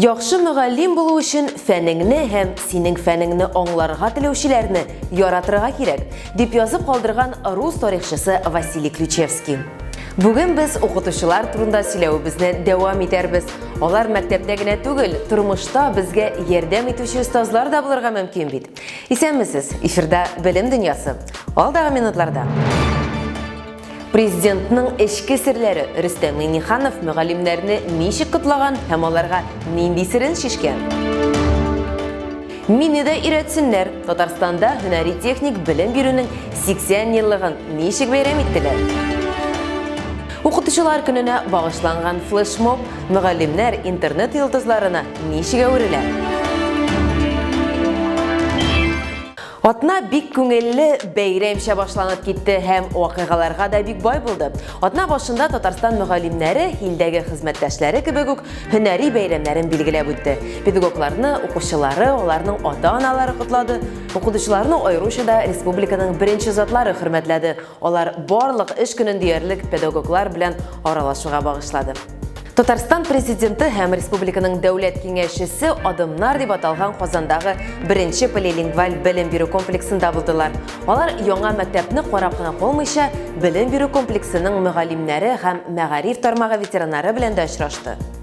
Яхшы мөгаллим булу өчен фәнеңне һәм синең фәнеңне аңларга теләүчеләрне яратырга кирәк, дип язып калдырган рус тарихчысы Василий Ключевский. Бүген без укытучылар турында сөйләвебезне дәвам итәрбез. Алар мәктәптә генә түгел, тормышта безгә ярдәм итүче остазлар да булырга мөмкин бит. Исәнмесез, эфирда Белем дөньясы. Алдагы минутларда. Президентның эчке серләре Рөстәм Миниханов мөгаллимнәрне ничек котлаган һәм аларга нинди серен шешкән? Мине дә өйрәтсеннәр. Татарстанда һөнәри техник белем бирүнең 80 еллыгын ничек бәйрәм иттеләр? Укытучылар көненә багышланган флешмоб мөгаллимнәр интернет йолдызларына ничек әверелә? Атна бик күңелле бәйрәмчә башланып китте һәм вакыйгаларга да бик бай булды. Атна башында Татарстан мөгаллимнәре илдәге хезмәттәшләре кебек үк һөнәри бәйрәмнәрен билгеләп үтте. Педагогларны, укучылары, аларның ата-аналары котлады, укытучыларны аеруча да республиканың беренче затлары хөрмәтләде. Алар барлык эш көнен диярлек педагоглар белән аралашуга багышлады. Татарстан президенты һәм республиканың дәүләт киңәшчесе Адымнар дип аталган Казандагы беренче полилингваль белем бирү комплексында булдылар. Алар яңа мәктәпне карап кына калмыйча, белем бирү комплексының мөгаллимнәре һәм мәгариф тармагы ветераннары белән дә очрашты.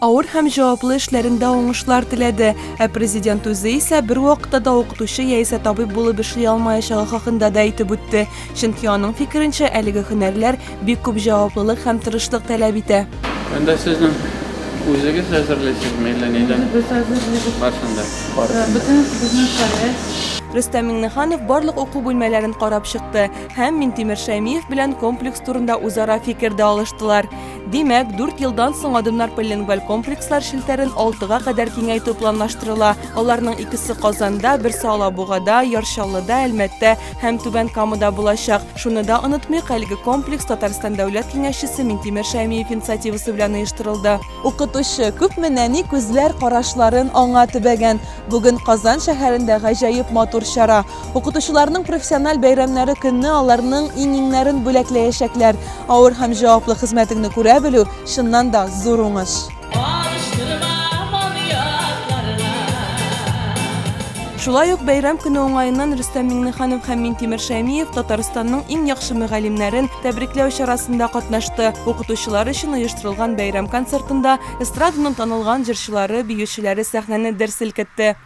Авыр һәм җаваплы эшләрендә уңышлар теләде. Ә Президент үзе исә бер вакытта да укытучы яисә табиб булып эшли алмаячагы хакында да әйтеп үтте. Чөнки аның фикеренчә, әлеге һөнәрләр бик күп җаваплылык һәм тырышлык таләп итә. Анда сезнең үзегез әзерлисезме әллә нидән? Үзебез әзерлибез. Барсын да. Барсын да. Бөтен безнең проект. Рөстәм Миңнеханов барлык уку бүлмәләрен карап чыкты һәм Минтимер Шәймиев белән комплекс турында үзара фикер дә алыштылар. Димәк, дүрт елдан соң Адымнар полилингваль комплекслар челтәрен алтыга кадәр киңәйтү планлаштырыла. Аларның икесе Казанда, берсе Алабугада, Ярчаллыда, Әлмәттә һәм Түбән Камада булачак. Шуны да онытмыйк, әлеге комплекс Татарстан Дәүләт киңәшчесе Минтимер Шәймиев инициативасы белән оештырылды. Укытучы, күпме нәни күзләр карашларын аңа төбәгән. Бүген Казан шәһәрендә гаҗәеп матур чара. Укытучыларның профессиональ бәйрәмнәре көнне аларның иңиңнәрен бүләкләячәкләр. Авыр һәм җаваплы хезмәтеңне күрә белү, чыннан да, зур уңыш. Шулай ук бәйрәм көне уңаеннан Рөстәм Миңнеханов һәм Минтимер Шәймиев Татарстанның иң яхшы мөгаллимнәрен тәбрикләү чарасында катнашты. Укытучылар өчен оештырылган бәйрәм концертында эстраданың танылган җырчылары, биючеләре сәхнәне дер селкетте.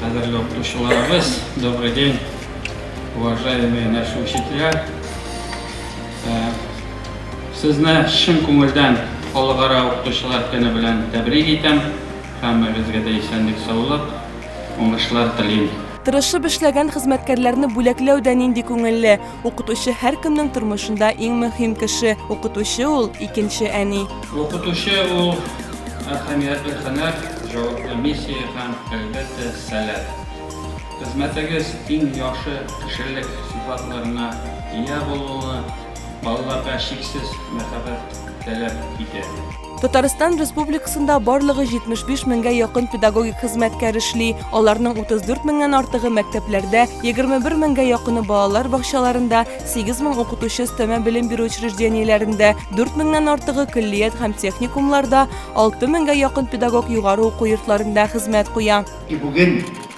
Кадерле укытучыларыбыз, добрый день, уважаемые наши учителя. Э, сезне чын күңелдән халыкара укытучылар көне белән тәбрик итәм. Һәммәгезгә дә исәнлек, саулык, уңышлар телим. Тырышып эшләгән хезмәткәрләрне бүләкләү дә нинди күңелле! Укытучы һәркемнең тормышында иң мөһим кеше. Укытучы ул икенче әни. Укытучы ул әһәмиятле һөнәр, җаваплы миссия һәм, әлбәттә, сәләт. Хезмәтегез иң яхшы кешелек сыйфатларына ия булуны, балаларга чиксез мәхәббәт таләп итә. Татарстан Республикасында барлыгы 75 меңгә якын педагогик хезмәткәр эшли. Аларның 34 меңнән артыгы мәктәпләрдә, 21 меңгә якыны балалар бакчаларында, 8 мең укытучы өстәмә белем бирү учреждениеләрендә, 4 меңнән артыгы көллият һәм техникумларда, 6 меңгә якын педагог югары уку йортларында хезмәт куя. И бүген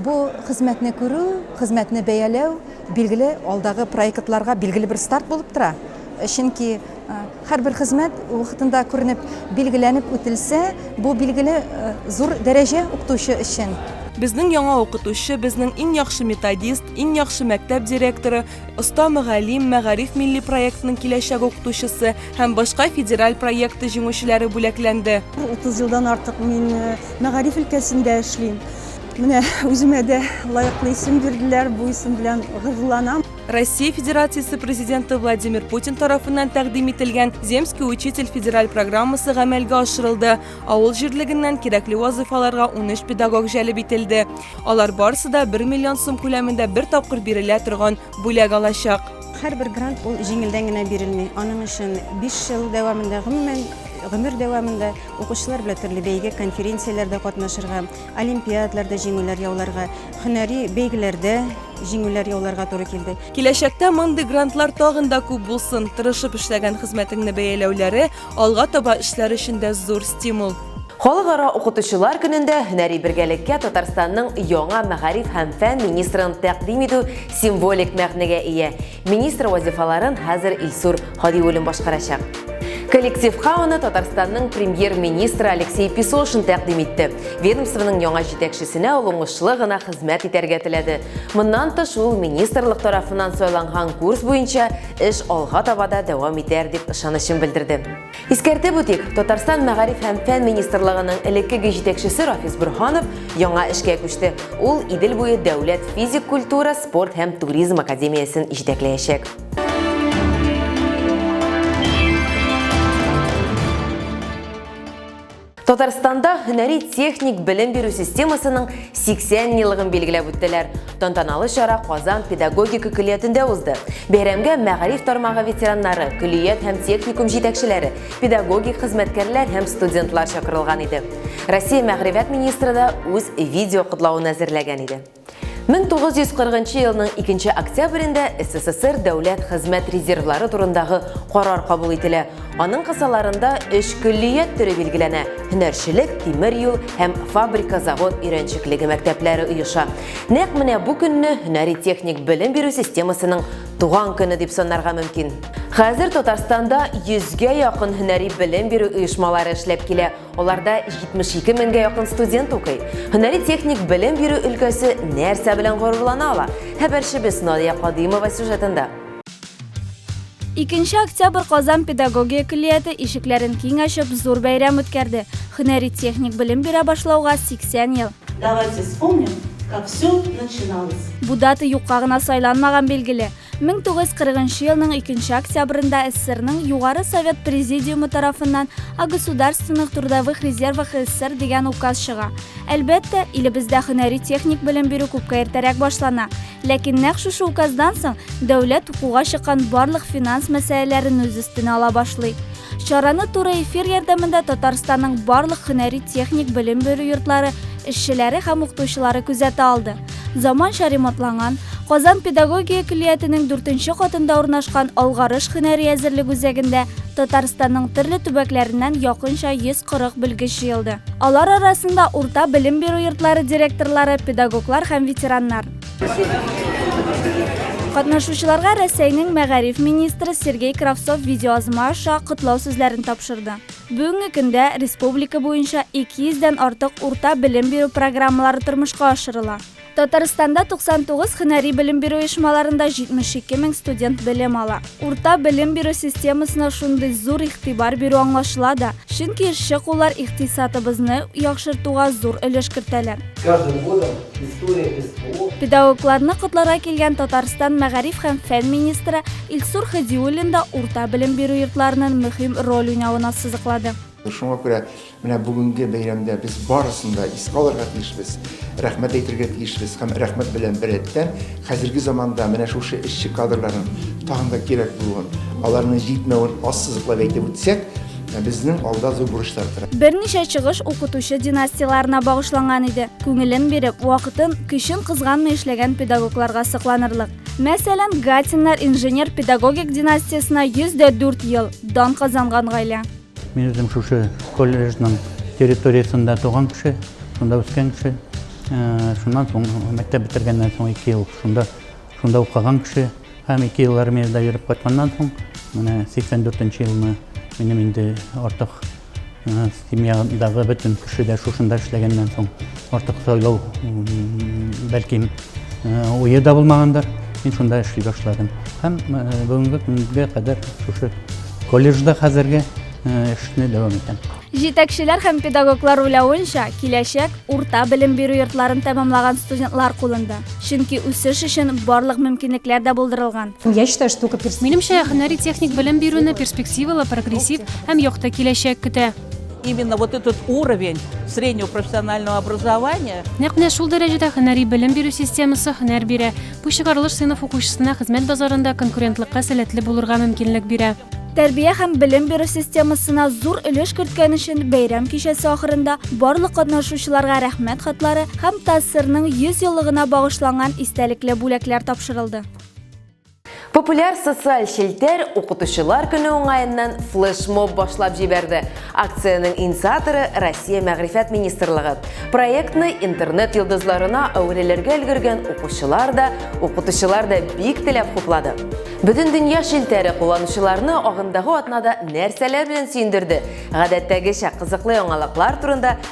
Бу хезмәтне күрү, хезмәтне бәяләү, билгеле, алдагы проектларга билгеле бер старт булып тора. Чөнки һәрбер хезмәт вакытында күренеп, билгеләнеп үтелсә, бу, билгеле, зур дәрәҗә укытучы өчен. Безнең яңа укытучы, безнең иң яхшы методист, иң яхшы мәктәп директоры, оста мөгаллим, Мәгариф милли проектының киләчәк укытучысы һәм башка федераль проекты җиңүчеләре бүләкләнде. Утыз елдан артык мин мәгариф өлкәсендә эшлим. Менә үземә дә лаеклы исем бирделәр, бу исем белән горурланам. Россия Федерациясе Президенты Владимир Путин тарафыннан тәкъдим ителгән Земский учитель федераль программасы гамәлгә ашырылды. Авыл җирлегеннән кирәкле вазыйфаларга 13 педагог җәлеп ителде. Алар барысы да 1 миллион сум күләмендә бер тапкыр бирелә торган бүләк алачак. Һәрбер грант ул җиңелдән генә бирелми. Аның өчен 5 ел дәвамында, гомумән, гомер дәвамында укучылар белән төрле бәйге, конференцияләрдә катнашырга, олимпиадларда җиңүләр яуларга, һөнәри бәйгеләрдә җиңүләр яуларга туры килде. Киләчәктә мондый грантлар тагын да күп булсын, тырышып эшләгән хезмәтеңне бәяләүләре алга таба эшләр өчен дә зур стимул. Халыкара укытучылар көнендә һөнәри бергәлеккә Татарстанның яңа мәгариф һәм фән министрын тәкъдим итү символик мәгънәгә ия. Министр вазифаларын хәзер Илсур Хадиуллин башкарачак. Коллективка аны Татарстанның премьер-министры Алексей Песошин тәкъдим итте. Ведомствоның яңа җитәкчесенә ул уңышлы гына хезмәт итәргә теләде. Моннан тыш ул министрлык тарафыннан сайланган курс буенча эш алга таба да дәвам итәр дип ышанычын белдерде. Искәртеп үтик, Татарстан мәгариф һәм фән министрлыгының элеккеге җитәкчесе Рафис Борһанов яңа эшкә күчте. Ул Идел буе дәүләт физик культура, спорт һәм туризм академиясен җитәкләячәк. Татарстанда һөнәри техник белем бирү системасының 80 еллыгын билгеләп үттеләр. Тантаналы чара Казан педагогика көллиятендә узды. Бәйрәмгә мәгариф тармагы ветераннары, көллият һәм техникум җитәкчеләре, педагогик хезмәткәрләр һәм студентлар чакырылган иде. Россия мәгърифәт министры да үз видео котлавын әзерләгән иде. 1940 елның 2 октябрендә СССР дәүләт хезмәт резервлары турындагы карар кабул ителә. Аның кысаларында өч көллият төре билгеләнә. Һөнәрчелек, тимер юл һәм фабрика-завод өйрәнчеклеге мәктәпләре оеша. Нәкъ менә бу көнне һөнәри-техник белем бирү системасының туган көне дип санарга мөмкин. Хәзер Татарстанда 100 гә якын һөнәри белем бирү оешмалары эшләп килә. Аларда 72 меңгә якын студент укый. Һөнәри-техник белем бирү өлкәсе нәрсә белән горурлана ала? Хәбәрчебез Надия Кадыймова сюжетында. 2 октябрь Казан педагогия көллияте ишекләрен киң ачып, зур бәйрәм үткәрде. Һөнәри-техник белем бирә башлауга 80 ел. Давайте вспомним, как все начиналось. Бу дата юкка гына сайланмаган, билгеле. 1940 нчы елның 2 нче октябрында СССРның Югары Совет Президиумы тарафыннан о государственных трудовых резервах СССР дигән указ чыга. Әлбәттә, илебездә һөнәри-техник белем бирү күпкә иртәрәк башлана. Ләкин нәкъ шушы указдан соң дәүләт укуга чыккан барлык финанс мәсьәләләрен үз өстенә ала башлый. Чараны туры эфир ярдәмендә Татарстанның барлык һөнәри-техник белем бирү йортлары эшчеләре һәм укытучылары күзәтә алды. Заманча ремонтланган Казан педагогия көллиятенең дүртенче катында урнашкан Алгарыш һөнәри әзерлек үзәгендә Татарстанның төрле төбәкләреннән якынча 140 белгеч җыелды. Алар арасында урта белем бирү йортлары директорлары, педагоглар һәм ветераннар. Катнашучыларга Рәсәйнең мәгариф министры Сергей Кравцов видеоязма аша котлау сүзләрен тапшырды. Бүгенге көндә республика буенча 200 дән артык урта белем бирү программалары тормышка ашырыла. Татарстанда 99 һөнәри белем бирү оешмаларында 72 мең студент белем ала. Урта белем бирү системасына шундый зур игътибар бирү аңлашыла да, чөнки эшче куллар икътисатыбызны яхшыртуга зур өлеш кертәләр. Педагогларны котларга килгән Татарстан мәгариф һәм фән министры Илсур Хәдиуллин да урта белем бирү йортларының мөһим роль уйнавына сызыклады. Шуңа күрә менә бүгенге бәйрәмдә без барысын да искә алырга тиешбез, рәхмәт әйтергә тиешбез һәм рәхмәт белән беррәттән хәзерге заманда менә шушы эшче кадрларның тагын да кирәк булуын, аларның җитмәвен ассызыклап әйтеп үтсәк, безнең алда зур бурычлар тора. Берничә чыгыш укытучы династияләренә багышланган иде. Күңелен биреп, вакытын, көчен кызганмый эшләгән педагогларга сокланырлык. Мәсәлән, Гатиннар инженер-педагогик династиясенә 104 ел дан казанган гаилә. Мин үзем шушы колледжның территориясендә туган кеше, шунда үскән кеше. Э, шуннан соң мәктәп бетергәннән соң ике ел шунда шунда укыган кеше һәм ике ел армиядә йөреп кайтканнан соң менә сиксән дүртенче елны минем инде артык Семьядагы бөтен кеше дә шушында эшләгәннән соң артык сайлау бәлкем уе да булмагандыр. Мин шунда эшли башладым. Һәм бүгенге көнгә кадәр шушы колледжда хәзерге эшне дәвам итәм. Җитәкчеләр һәм педагоглар уйлавынча, киләчәк урта белем бирү йортларын тәмамлаган студентлар кулында. Чөнки үсеш өчен барлык мөмкинлекләр дә булдырылган. Я считаю, что только перспектива. Минемчә, һөнәри техник белем бирүне перспективалы, прогрессив һәм якты киләчәк көтә. Именно вот этот уровень среднего профессионального образования. Нәкъ менә шул дәрәҗәдә һөнәри белем бирү системасы һөнәр бирә. Бу чыгарылыш сыйныф укучысына хезмәт базарында конкурентлыкка сәләтле булырга мөмкинлек бирә. Тәрбия һәм белем бирү системасына зур өлеш керткән өчен бәйрәм кичәсе ахырында барлык катнашучыларга рәхмәт хатлары һәм ТАССРның 100 еллыгына багышланган истәлекле бүләкләр тапшырылды. Популяр социаль челтәр укытучылар көне уңаеннан флешмоб башлап җибәрде. Акциянең инициаторы Россия мәгърифәт министрлыгы. Проектны интернет йолдызларына әверелергә өлгергән укучылар да, укытучылар да бик теләп хуплады. Бөтен дөнья челтәре кулланучыларны агымдагы атнада нәрсәләр белән сөендерде? Гадәттәгечә кызыклы яңалыклар турында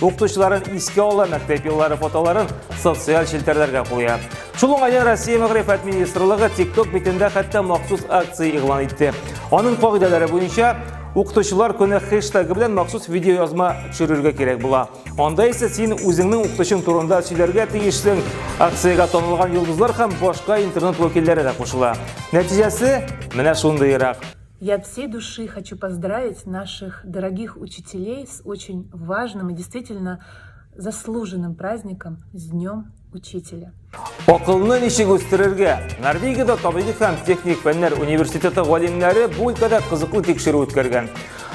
Укытучыларын искә ала, мәктәп еллары фотоларын социаль челтәрләргә куя. Шул уңайдан Россия мәгърифәт министрлыгы TikTok битендә хәтта махсус акция игълан итте. Аның кагыйдәләре буенча Укытучылар көне хэштегы белән махсус видео язма төшерергә кирәк була. Анда исә син үзеңнең укытучың турында сөйләргә тиешсең. Акциягә танылган йолдызлар һәм башка интернет вәкилләре дә кушыла. Нәтиҗәсе менә шундыйрак. Я от всей души хочу поздравить наших дорогих учителей с очень важным и действительно заслуженным праздником с Днем Учителя. Акылны ничек үстерергә? Норвегиядә табибик һәм техник фәннәр университеты галимнәре бу өлкәдә кызыклы тикшерү үткәргән.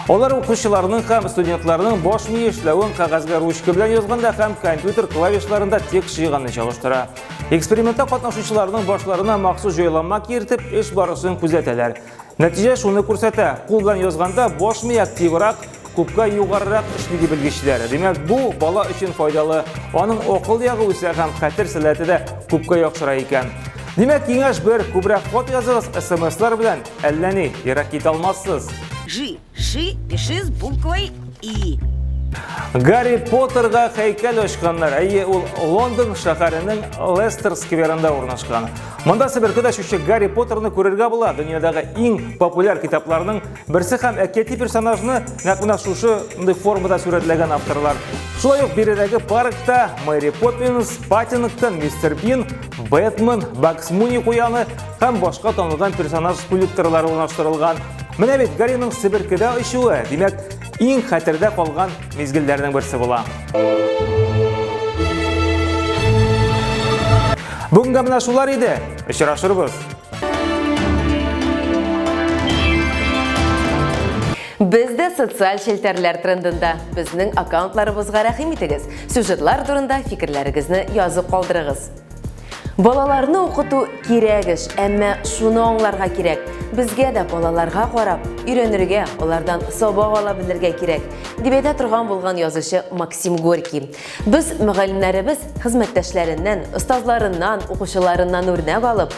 Алар укучыларның һәм студентларның баш мие эшләвен кәгазьгә ручка белән язганда һәм компьютер клавишларында текст җыйганны чагыштыра. Экспериментта катнашучыларның башларына махсус җайланма киертеп, эш барысын күзәтәләр. Нәтиҗә шуны күрсәтә. Кул белән язганда баш ми активрак, күпкә югарырак эшли ди белгечләр. Димәк, бу бала өчен файдалы. Аның акыл ягы үсә һәм хәтер сәләте дә күпкә яхшыра икән. Димәк, киңәш бер, күбрәк хат языгыз, смслар белән әллә ни, ерак китә алмассыз. G. Ши пиши с буквой И. Гарри Поттерга һәйкәл ачканнар. Әйе, ул Лондон шәһәренең Лестер скверында урнашкан. Монда себерке дәшүче Гарри Поттерны күрергә була. Дөньядагы иң популяр китапларның берсе һәм әкияти персонажны нәкъ менә шушы мондый формада сурәтләгән авторлар. Шулай ук биредәге паркта Мэри Поппинс, Паттингтон, Мистер Бин, Бэтмен, Бакс Муни куяны һәм башка танылган персонаж скульпторлары урнаштырылган. Менә бит Гариның Себеркедә очуы, димәк, иң хәтердә калган мизгелләрнең берсе була. Бүгенгә менә шулар иде. Очрашырбыз. Без дә социаль челтәрләр трендында. Безнең аккаунтларыбызга рәхим итегез. Сюжетлар турында фикерләрегезне язып калдырыгыз. Балаларны укыту кирәк эш, әмма шуны аңларга кирәк, безгә дә балаларга карап, өйрәнергә, алардан сабак ала белергә кирәк, дип әйтә торган булган язучы Максим Горький. Без мөгаллимнәребез хезмәттәшләреннән, остазларыннан, укучыларыннан үрнәк алып,